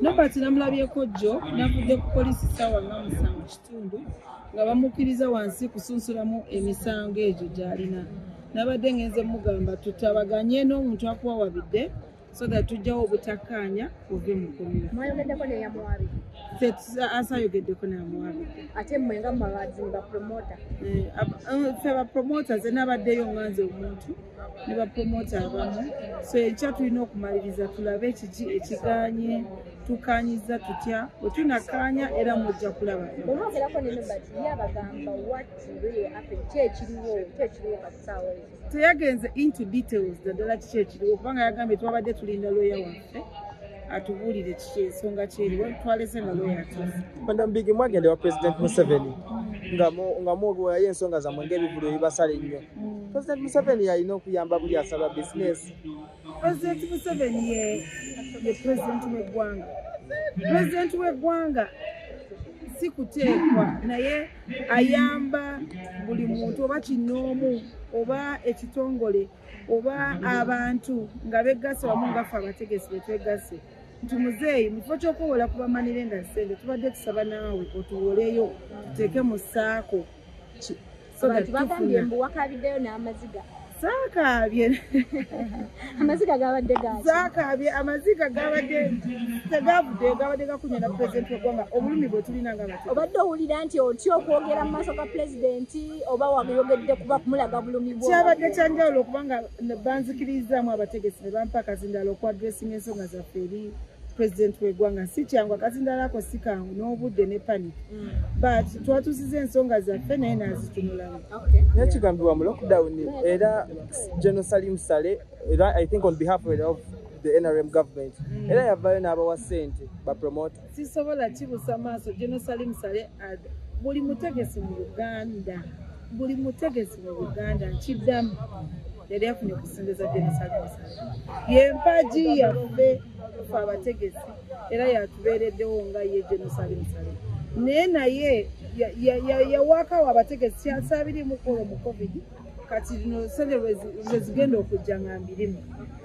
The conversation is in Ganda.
Nobert namulabyeko jjo navudde ku poliisi ssaawa nga musanvu kitundu nga bamukkiriza wansi kusunsulamu emisango egyo gy'alina nabadde ngenze mugamba tutabaganye n'omuntu akuwawabidde so that tujjawo obutakkaanya ove mu kkomera asayogeddeko namuwabiddeatmwengamubabazi bapromota eh, eh, fe bapromota ze nabaddeyo nganze omuntu ne bapromota abamu so ekya tulina okumaliriza tulabe kiki ekiganye tukanyiza tutya wetunakanya era mujja kulaba teyagenze into details naddala kiki ekiriwo kubanga yagambye twabadde tulinda loya wa waffe atubuulire kiki ensonga kyeri watwaleze mu looya tufe madam bigi mwagende wa president museveni nga mwogewayo ensonga zamwe ngaebivulu ebibasala ennyo mm. president museveni yalina okuyamba buli asaba bisinesi president museveni ye president wegwanga president wegwanga si kuteekwa naye ayamba buli muntu oba kinoomu oba ekitongole oba abantu nga begasse wamu ngaffe abategesi betwegasse nti muzeeyi mukifo kyokuwola ku bamanire nga sente tubadde tusaba naawe otuwoleyo tuteeke mu saako saakaabye amaziga gabadde saakaabye amaziga gabadde tegavudde gabadde gakunya na pulezidenti wegwanga obulumi bwe tulina nga obadde owulira nti otya okwogera mu maaso ga pulezidenti oba wayogedde kuba kumulaga bulumi bwo kyabadde kyanjawulo okubanga banzikirizaamu abategesi ne bampa akazindala oku adressinga ensonga zaffe eri president wegwanga si kyangu akazindala ako si kangu n'obudde ne panic mm. but twatusiza ensonga zaffe naye nazitunulamu naye kigambibwa mu lockdown era general salim sale era i think on behalf of the nrm government mm. era yavayo n'abawa sente bapromote sisobola kibusa maaso genosalimu sale ad buli mutegesi mu uganda buli mutegesi mu uganda nkiddamu yali afunye okusingiza genosalimu sale yempagi yaffe fe abategesi era yatubeereddewo nga ye genosalimu sale naye naye yawakawo abategesi kyasabirimu kolo mu covid kati lino sente lwezigenda okujja nga mbirimu